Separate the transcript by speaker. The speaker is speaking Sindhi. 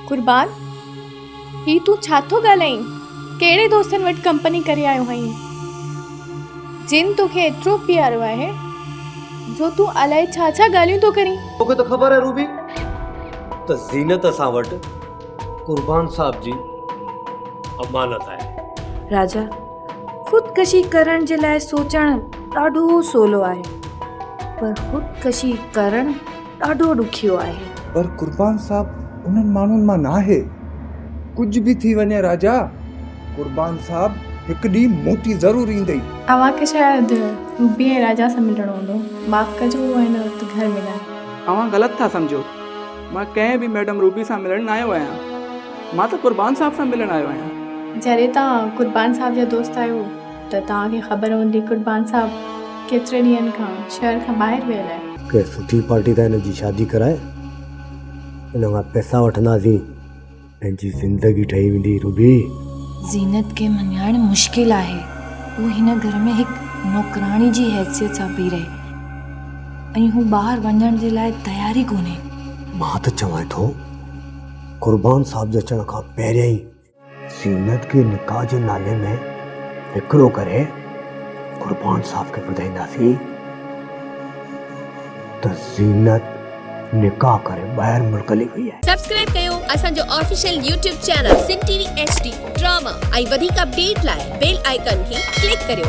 Speaker 1: قربان! هي تون ڇا ٿو ڳالهائين؟ ڪهڙي دوستن وٽ ڪمپني ڪري آيو آهين، جن تو کي ايترو پيارو آهي، جو تون الائي ڇا ڇا ڳالهيون ٿو ڪرين؟ تو کي ته خبر آهي روبي
Speaker 2: ته زينت اسان وٽ قربان صاحب جي امانت آهي. راجا،
Speaker 3: خودڪشي ڪرڻ جي لاء سوچڻ ڏاڍو سولو آهي پر خودڪشي ڪرڻ ڏاڍو ڏکيو آهي. پر قربان صاحب
Speaker 4: انهن ماڻهن مان ناهي. ڪجهه به ٿي وڃي راجا قربان صاحب هڪ ڏينهن موٽي ضرور ايندئي. اوهان کي شايد
Speaker 1: روبي ۽ راجا سان ملڻو هوندو. معاف ڪجو هو هن وقت گهر ۾ ناهي. اوهان غلط ٿا
Speaker 5: سمجهو. مان ڪنهن به ميڊم روبي سان ملڻ نه آيو آهيان. مان ته قربان صاحب سان ملڻ آيو آهيان. جڏهن توهان
Speaker 1: قربان صاحب جا دوست آهيو ته توهان کي خبر هوندي قربان صاحب ڪيتري ڏينهن کان شهر کان ٻاهر ويل آهي. ڪنهن سٺي پارٽي سان
Speaker 2: هن جي شادي ڪرائي هن کان پئسا وٺنداسين. تنهنجي زندگي ٺهي ويندي روبي. زينت
Speaker 3: کي مڃائڻ مشڪل آهي. هو هن گهر ۾ هڪ نوڪراڻي جي حيثيت سان پئي رهي ۽ هو ٻاهر وڃڻ جي لاء تيار ئي ڪونهي. مان ته چوان
Speaker 2: ٿو قربان صاحب جي اچڻ کان پهريان ئي زينت کي نڪاح جي نالي ۾ وڪرو ڪري قربان صاحب کي ٻڌائينداسين ته زينت نڪاح ڪري ٻاهر ملڪ هلي وئي آهي. سبسڪرائب ڪيو اسان جو
Speaker 6: official YouTube channel Sindh T V H D drama ۽ وڌيڪ اپڊيٽ لاء بيل آئيڪان کي ڪلڪ ڪريو.